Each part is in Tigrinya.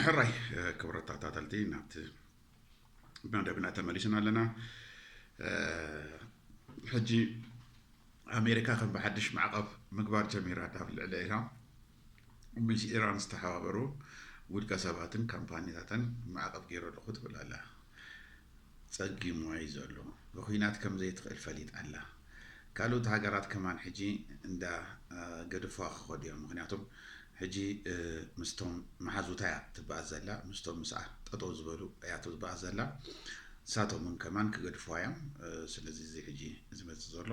ሕራይ ክብረት ተኸታተልቲ ናብቲ መደብና ተመሊስና ኣለና ሕጂ ኣሜሪካ ከም ብሓድሽ ማዕቐብ ምግባር ጀሚራ ካብ ልዕሊ ኢራን ምስ ኢራን ዝተሓባበሩ ውልቀ ሰባትን ካምፓኒታትን ማዕቐብ ገይረልኹ ትብል ኣላ ጸጊምዋ እዩ ዘሎ ብኩናት ከም ዘይትክእል ፈሊጣ ኣላ ካልኡት ሃገራት ከማን ሕጂ እንዳ ገድፍዋ ክከዱ እዮም ምክንያቱም ሕጂ ምስቶም መሓዙታ እያ ትበኣስ ዘላ ምስቶም ምስኣ ጠጠው ዝበሉ እያ ትበኣስ ዘላ ንሳቶም እውን ከማን ክገድፍዋ እዮም ስለዚ እዚ ሕጂ ዝመጽእ ዘሎ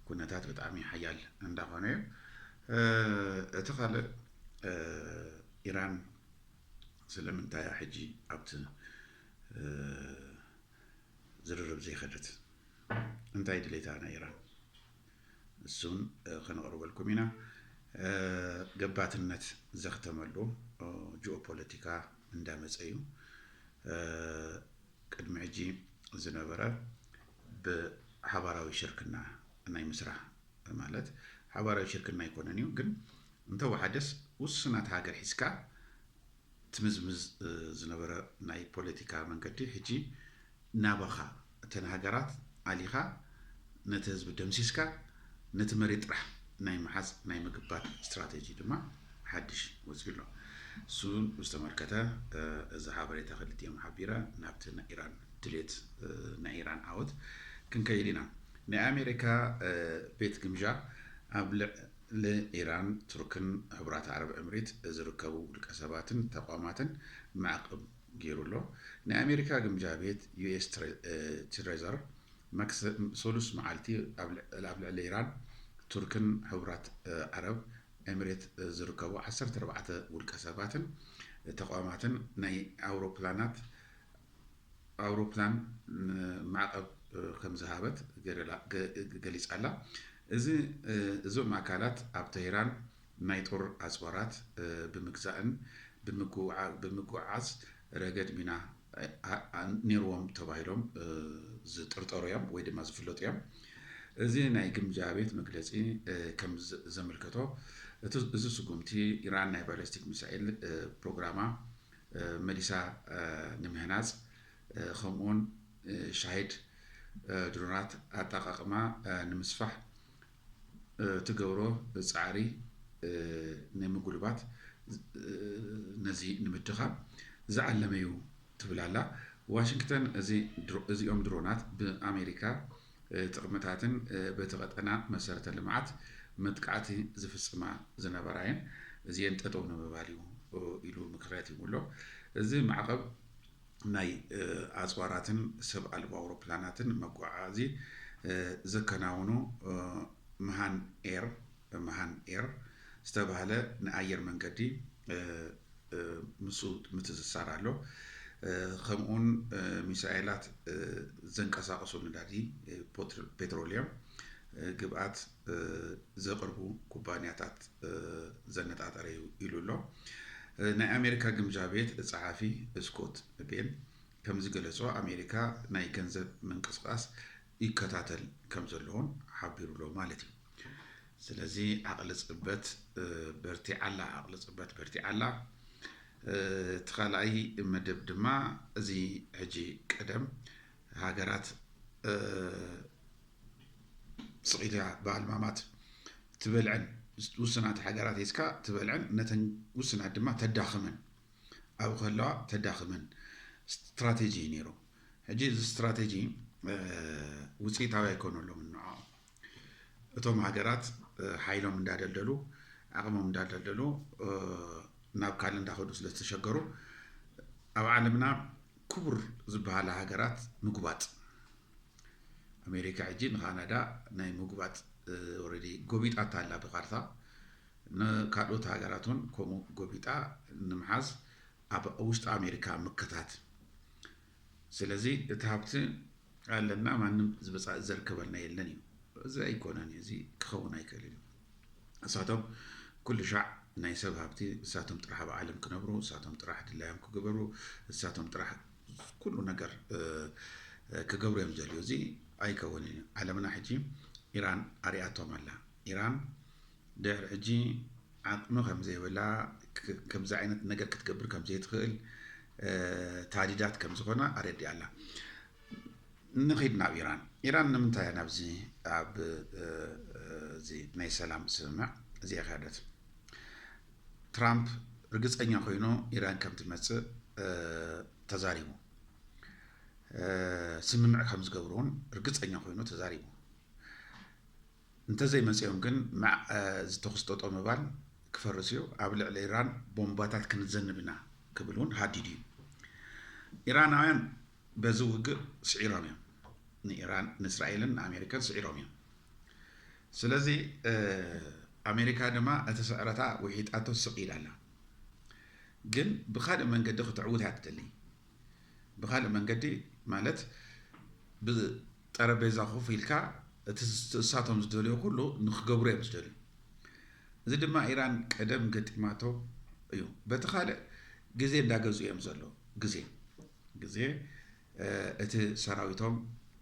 ኩነታት ብጣዕሚ ሓያል እንዳኮነ እዩ እቲ ካልእ ኢራን ስለምንታይ እያ ሕጂ ኣብቲ ዝርርብ ዘይከደት እንታይ ድሌታ ናይ ኢራን እሱን ከነቕርበልኩም ኢና ገባትነት ዘኽተመሉ ጂኦፖለቲካ እንዳመፀ እዩ ቅድሚ ሕጂ ዝነበረ ብሓባራዊ ሽርክና ናይ ምስራሕ ማለት ሓባራዊ ሽርክና ኣይኮነን እዩ ግን እንተወሓደስ ውሱናት ሃገር ሒዝካ ትምዝምዝ ዝነበረ ናይ ፖለቲካ መንገዲ ሕጂ ናባኻ እተን ሃገራት ኣሊኻ ነቲ ህዝቢ ደምሲስካ ነቲ መሬት ጥራሕ ናይ ምሓዝ ናይ ምግባት ስትራተጂ ድማ ሓድሽ ወጺኡ ኣሎ። ንሱ ብዝተመልከተ እዚ ሓበሬታ ክልቲኦም ሓቢረ ናብቲ ናይ ኢራን ድሌት ናይ ኢራን ዓወት ክንከይድ ኢና። ናይ ኣሜሪካ ቤት ግምዣ ኣብ ልዕ። ንኢራን፣ ቱርክን ሕቡራት ዓረብ እምሪት ዝርከቡ ውልቀ ሰባትን ተቋማትን ማዕቕብ ገይሩ ኣሎ። ናይ ኣሜሪካ ግምጃ ቤት፣ ዩኤስ ትሬዘር፣ ሰሉስ መዓልቲ ኣብ ልዕሊ ኢራን፣ ቱርክን ሕቡራት ዓረብ እምሬት ዝርከቡ ዓሰርተ ኣርባዕተ ውልቀ ሰባትን ተቋማትን ናይ ኣውሮፕላናት ኣውሮፕላን ማዕቐብ ከምዝሃበት ገሊፃ'ላ። እዚ እዞም ኣካላት ኣብ ተህራን ናይ ጦር ኣፅዋራት ብምግዛእን ብምጉዕዓዝ ረገድ ሚና ነይርዎም ተባሂሎም ዝጥርጠሩ'ዮም ወይ ድማ ዝፍለጡ'ዮም። እዚ ናይ ግምጃ ቤት መግለፂ ከምዘምልከቶ እዚ ስጉምቲ ኢራን ናይ ባለስቲክ ሚሳይል ፕሮግራማ መሊሳ ንምህናፅ ከምኡ ውን ሻሂድ ድሮናት ኣጠቓቕማ ንምስፋሕ ትገብሮ ፃዕሪ ንምጉልባት ነዚ ንምድኻም ዝዓለመ ዩ ትብል ኣላ ዋሽንግተን። እዚኦም ድሮናት ብኣሜሪካ ጥቕምታትን በቲ ቀጠና መሰረተ ልምዓት መጥቃዕቲ ዝፍፅማ ዝነበራ እየን። እዚኤን ጠጠው ንምባል እዩ ኢሉ ምክርያት ሂቡ ኣሎ። እዚ ማዕቐብ ናይ ኣፅዋራትን ሰብ ኣልቦ ኣውሮፕላናትን መጓዓዓዚ ዘከናውኑ መሃን ኤር፣ MahanAir፣ ዝተብሃለ ንኣየር መንገዲ ምስኡ ምትእስሳር ኣሎ። ከምኡውን ሚሳኤላት ዘንቀሳቕሱ ነዳዲ ፔትሮሊየም ግብኣት ዘቕርቡ ኩባንያታት ዘነጣጠረ እዩ ኢሉ ኣሎ። ናይ ኣሜሪካ ግምጃ ቤት ጸሓፊ ስኮት ቤን ከምዝገለጾ ኣሜሪካ ናይ ገንዘብ ምንቅስቓስ ይከታተል ከምዘሎ'ውን ሓቢሩ'ሎ ማለት እዩ። ስለዚ ዓቕሊ ጽበት በርቲዓ ኣላ፣ ዓቕሊ ጽበት በርቲዓ ኣላ። እቲ ካልኣይ መደብ ድማ እዚ ሕጂ ቀደም ሃገራት ስቕ ኢላ ብኣልማማት ትበልዐን ውስናት ሃገራት ሒዝካ ትበልዐን ነተን ውስናት ድማ ተዳኽመን ኣብኡ ከለዋ ተዳኽመን ስትራቴጂ እዩ ነይሩ። ሕጂ እዚ ስትራቴጂ ውፅኢታዊ ኣይኮነሎምን ንዕኦም እቶም ሃገራት ሓይሎም እንዳደልደሉ ዓቕሞም እንዳደልደሉ ናብ ካልእ እንዳኸዱ ስለ ዝተሸገሩ ኣብ ዓለምና ክቡር ዝበሃላ ሃገራት ምጉባጥ ኣሜሪካ ሕጂ ንካናዳ ናይ ምጉባጥ ኦልሬዲ ጎቢጣታ ኣላ ብካርታ ንካልኦት ሃገራት እውን ከምኡ ጎቢጣ ንምሓዝ ኣብ ውሽጢ ኣሜሪካ ምክታት ስለዚ እቲ ሃብቲ ኣለና ማንም ዝብፃእ ዘርከበልና የለን እዩ እዚ ኣይኮነን እዩ እዚ ክኸውን ኣይክእልን እዩ እሳቶም ኩሉ ሻዕ ናይ ሰብ ሃብቲ እሳቶም ጥራሕ ኣብ ዓለም ክነብሩ እሳቶም ጥራሕ ድላዮም ክግበሩ እሳቶም ጥራሕ ኩሉ ነገር ክገብሩ እዮም ዘልዩ እዚ ኣይከውንን እዩ ዓለምና ሕጂ ኢራን ኣሪኣቶም ኣላ ኢራን ድሕሪ ሕጂ ዓቅሚ ከምዘይብላ ከምዚ ዓይነት ነገር ክትገብር ከምዘይትኽእል ታዲዳት ከምዝኾና ኣረዲኣ ኣላ። ንኺድ ናብ ኢራን ኢራን ንምንታይ እያ ናብዚ ኣብ እዚ ናይ ሰላም ስምምዕ እዚኣ ከደት ትራምፕ ርግፀኛ ኮይኑ ኢራን ከም ትመፅእ ተዛሪቡ ስምምዕ ከም ዝገብሩ እውን ርግፀኛ ኮይኑ ተዛሪቡ እንተዘይመጺኦም ግን መዕ እዚ ተኹሲ ጠጠው ምባል ክፈርስ እዩ፣ ኣብ ልዕሊ ኢራን ቦምባታት ክንዘንብ ኢና ክብል እውን ሃዲዱ እዩ። ኢራናውያን በዚ ውግእ ስዒሮም እዮም። ንኢራን፣ ንእስራኤልን ንኣሜሪካን ስዒሮም እዮም። ስለዚ ኣሜሪካ ድማ እቲ ስዕረታ ውሒጣቶ ስቕ ኢላ ኣላ። ግን ብካልእ መንገዲ ክትዕውት እያ ትደሊ። ብካልእ መንገዲ ማለት ጠረጴዛ ኮፍ ኢልካ እቲ እሳቶም ዝደልዮ ኩሉ ንክገብሩ እዮም ዝደልዩ። እዚ ድማ ኢራን ቀደም ገጢማቶ እዩ። በቲ ካልእ ግዜ እንዳገዝኡ እዮም ዘለዉ። ግዜ ግዜ እቲ ሰራዊቶም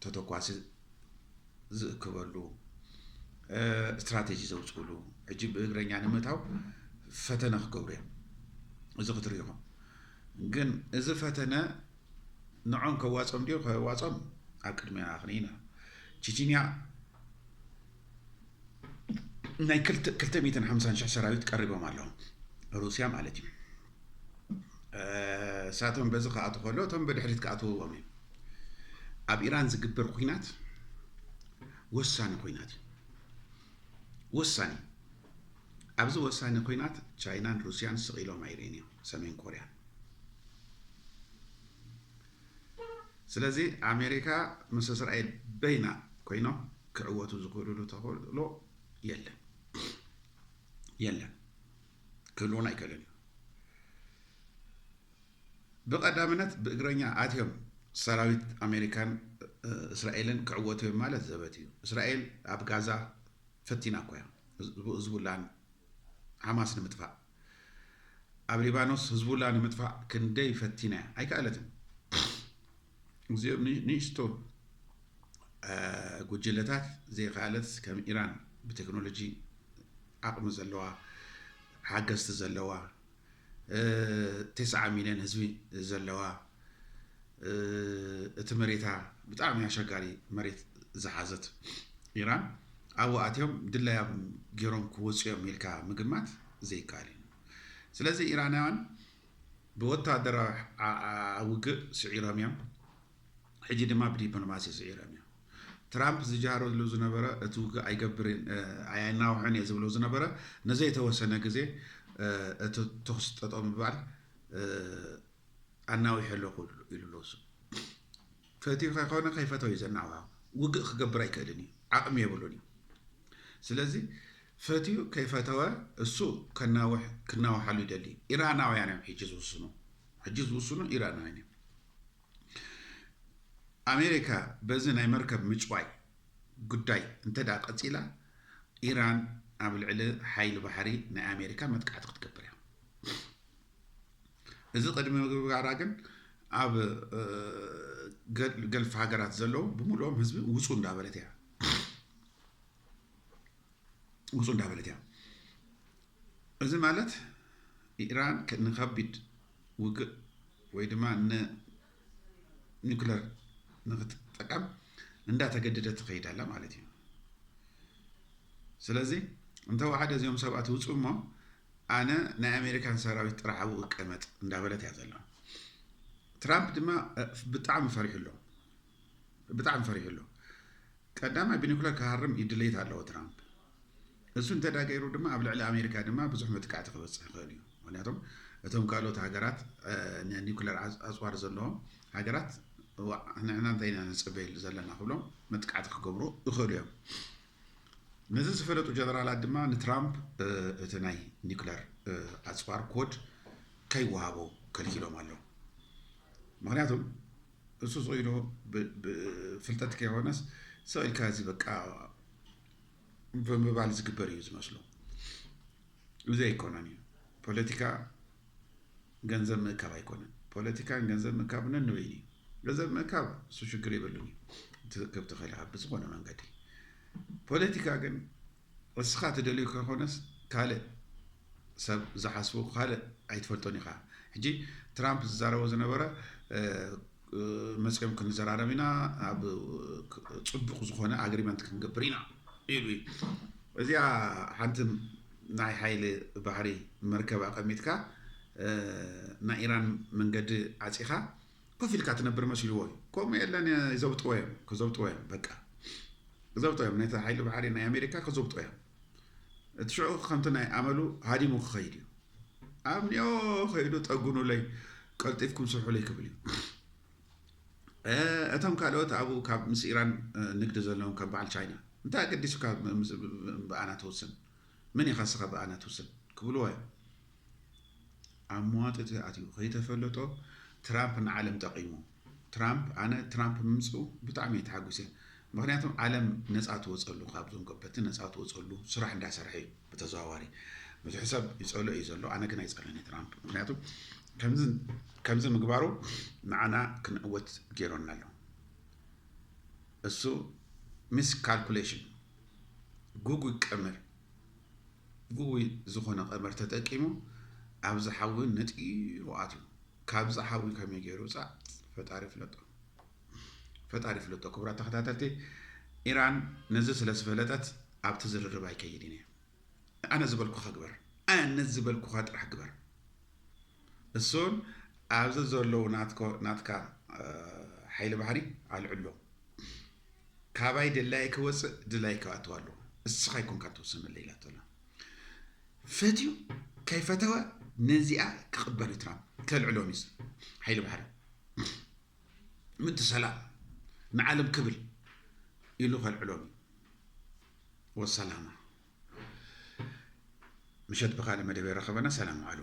ተተኳሲ ዝእክበሉ ስትራቴጂ ዘውፅእሉ ሕጂ ብእግረኛ ንምእታው ፈተነ ክገብሩ እዮም። እዚ ክትሪኡ ኢኹም። ግን እዚ ፈተነ ንዖም ከዋጾም ድዩ ከዋጾም ኣብ ቅድሜና ክንይ ኢና ቺቺንያ ናይ ክልተ ሚትን ሓምሳን ሽሕ ሰራዊት ቀሪቦም ኣለዉ ሩስያ ማለት እዩ እሳቶም በዚ ክኣት ከሎ እቶም ብድሕሪት ክኣትውዎም እዩ ኣብ ኢራን ዝግበር ኩናት ወሳኒ ኩናት እዩ ወሳኒ ኣብዚ ወሳኒ ኲናት ቻይናን ሩስያን ስቕ ኢሎም ኣይርእን እዮም፣ ሰሜን ኮርያ። ስለዚ ኣሜሪካ ምስ እስራኤል በይና ኮይኖም ክዕወቱ ዝኽእሉሉ ተኽእሎ የለን የለን፣ ክህልዎን ኣይክእልን እዩ። ብቐዳምነት ብእግረኛ ኣትዮም ሰራዊት ኣሜሪካን እስራኤልን ክዕወቱ እዮም ማለት ዘበት እዩ። እስራኤል ኣብ ጋዛ ፈቲና እኮ እያ ህዝቡላን ሓማስ ንምጥፋእ ኣብ ሊባኖስ ህዝቡላ ንምጥፋእ ክንደይ ፈቲና እያ ኣይከኣለትን እዚኦም ንእሽቶ ጉጅለታት ዘይከኣለት ከም ኢራን ብቴክኖሎጂ ዓቕሚ ዘለዋ ሓገዝቲ ዘለዋ ቴስዓ ሚልዮን ህዝቢ ዘለዋ እቲ መሬታ ብጣዕሚ ኣሸጋሪ መሬት ዝሓዘት ኢራን ኣብኡ ኣትዮም ድላዮም ገይሮም ክወፁ እዮም ኢልካ ምግማት ዘይከኣል እዩ። ስለዚ ኢራናውያን ብወታደራዊ ውግእ ስዒሮም እዮም። ሕጂ ድማ ብዲፕሎማሲ ስዒሮም እዮም። ትራምፕ ዝጃሃረሉ ዝነበረ እቲ ውግእ ኣይናውሖን እየ ዝብሎ ዝነበረ ንዘይተወሰነ ግዜ እቲ ተኹሲ ጠጠው ምባል ኣናዊሐ ኣለኹ ኢሉ ኣሎ። እሱ ፈትዩ ከይኮነ ከይፈተው እዩ ዘናውሖ። ውግእ ክገብር ኣይክእልን እዩ፣ ዓቕሚ የብሉን እዩ። ስለዚ ፈትዩ ከይፈተወ እሱ ከናውሕ ክናውሓሉ ይደሊ። ኢራናውያን እዮም ሕጂ ዝውስኑ፣ ሕጂ ዝውስኑ ኢራናውያን እዮም። ኣሜሪካ በዚ ናይ መርከብ ምጭዋይ ጉዳይ እንተድኣ ቀጺላ፣ ኢራን ኣብ ልዕሊ ሓይሊ ባሕሪ ናይ ኣሜሪካ መጥቃዕቲ ክትገብር እያ። እዚ ቅድሚ ምግባራ ግን ኣብ ገልፍ ሃገራት ዘለዉ ብምሉኦም ህዝቢ ውፁ እንዳበለት እያ ውፁ እንዳበለት እያ። እዚ ማለት ኢራን ንከቢድ ውግእ ወይ ድማ ን ኒኩለር ንክትጠቀም እንዳ ተገደደት ትኸይድ ኣላ ማለት እዩ ስለዚ እንተወሓደ እዚኦም ሰባት ይውፁ እሞ ኣነ ናይ ኣሜሪካን ሰራዊት ጥራሕ ኣብኡ እቀመጥ እንዳበለት እያ ዘሎ ትራምፕ ድማ ብጣዕሚ ፈሪሑ ኣሎ ብጣዕሚ ፈሪሑ ኣሎ ቀዳማይ ብኒኩለር ክሃርም ይድለይት ኣለዎ ትራምፕ እሱ እንተዳገይሩ ድማ ኣብ ልዕሊ ኣሜሪካ ድማ ብዙሕ መጥቃዕቲ ክበፅሕ ይኽእል እዩ ምክንያቱም እቶም ካልኦት ሃገራት ኒኩለር ኣፅዋር ዘለዎም ሃገራት ዋዕ ንዕና እንታይ ኢና ንፅበየሉ ዘለና ክብሎም መጥቃዕቲ ክገብሩ ይኽእሉ እዮም ነዚ ዝፈለጡ ጀነራላት ድማ ንትራምፕ እቲ ናይ ኒኩለር ኣፅዋር ኮድ ከይወሃቦ ከልኪሎም ኣለዉ ምክንያቱም እሱ ዝኢሉ ፍልጠት ከይኮነስ ሰው ኢልካ እዚ በቃ ብምባል ዝግበር እዩ ዝመስሎ እዚ ኣይኮነን እዩ ፖለቲካ ገንዘብ ምእካብ ኣይኮነን ፖለቲካን ገንዘብ ምእካብ ነንበይኑ እዩ ገንዘብ ምእካብ እሱ ሽግር የብሉን እዩ ትእክብ ትኽእል ኢኻ ብዝኾነ መንገዲ ፖለቲካ ግን እስኻ ትደልዩ ከይኮነስ ካልእ ሰብ ዝሓስቡ ካልእ ኣይትፈልጦን ኢኻ ሕጂ ትራምፕ ዝዛረቦ ዝነበረ መፅዮም ክንዘራረብ ኢና ኣብ ፅቡቕ ዝኾነ ኣግሪመንት ክንገብር ኢና ኢሉ እዩ። እዚኣ ሓንቲ ናይ ሓይሊ ባሕሪ መርከብ ኣቐሚጥካ ናይ ኢራን መንገዲ ዓፂኻ ኮፍ ኢልካ ትነብር መሲልዎ እዩ። ከምኡ የለን ይዘብጥዎ እዮም፣ ክዘብጥዎ እዮም፣ በቃ ክዘብጥዎ እዮም። ነቲ ሓይሊ ባሕሪ ናይ ኣሜሪካ ክዘብጥዎ እዮም። እቲ ሽዑ ከምቲ ናይ ኣመሉ ሃዲሙ ክኸይድ እዩ። ኣምንዮ ከይዱ ጠጉኑለይ ቀልጢፍኩም ስርሑለይ ክብል እዩ። እቶም ካልኦት ኣብኡ ካብ ምስ ኢራን ንግዲ ዘለዎም ካብ በዓል ቻይና እንታይ ኣገዲሱካ ብኣና ትውስን ምን ኢኻ ስኻ ብኣና ትውስን ክብልዎ እዮም። ኣብ መዋጥጥ ተኣትዩ ከይተፈለጦ ትራምፕ ንዓለም ጠቂሙ ትራምፕ ኣነ ትራምፕ ምምፅኡ ብጣዕሚ እየ ተሓጒሰ ምክንያቱ ዓለም ነፃ ትወፀሉ ካብዞም ከበድቲ ነፃ ትወፀሉ ስራሕ እንዳሰርሐ እዩ ብተዘዋዋሪ ብዙሕ ሰብ ይፀልኦ እዩ ዘሎ ኣነ ግን ኣይፀልኦን ትራምፕ ምክንያቱ ከምዚ ምግባሩ ንዓና ክንዕወት ገይሮና ኣሎ እሱ ሚስ ካልኩሌሽን ጉጉይ ቀመር ግጉይ ዝኾነ ቀመር ተጠቂሙ ኣብዚ ሓዊ ነጢሩ ኣትዩ። ካብዚ ሓዊ ከመይ ገይሩ ውጻእ ፈጣሪ ይፍለጦ። ፈጣሪ ይፍለጦ። ክቡራት ተኸታተልቲ ኢራን ነዚ ስለ ዝፈለጠት ኣብቲ ዝርርብ ኣይከይድን እየ። ኣነ ዝበልኩኻ ግበር። ኣነ ዝበልኩኻ ጥራሕ ግበር። እሱን ኣብዚ ዘለዉ ናትካ ሓይሊ ባሕሪ ኣልዕሎ። ካባይ ደላዪ ክወጽእ ድላዪ ክኣትው ኣለዎ እስኻ ኣይኮንካ ትውሰነለይ ኢላቶላ ፈትዩ ከይፈተወ ነዚኣ ክቕበል እዩ ትራምፕ ከልዕሎ ሚስ ሓይሊ ባሕሪ ምእንቲ ሰላም ንዓለም ክብል ኢሉ ከልዕሎም እዩ ወሰላማ ምሸት ብካልእ መደብ የራኸበና ሰላም ዋዕሉ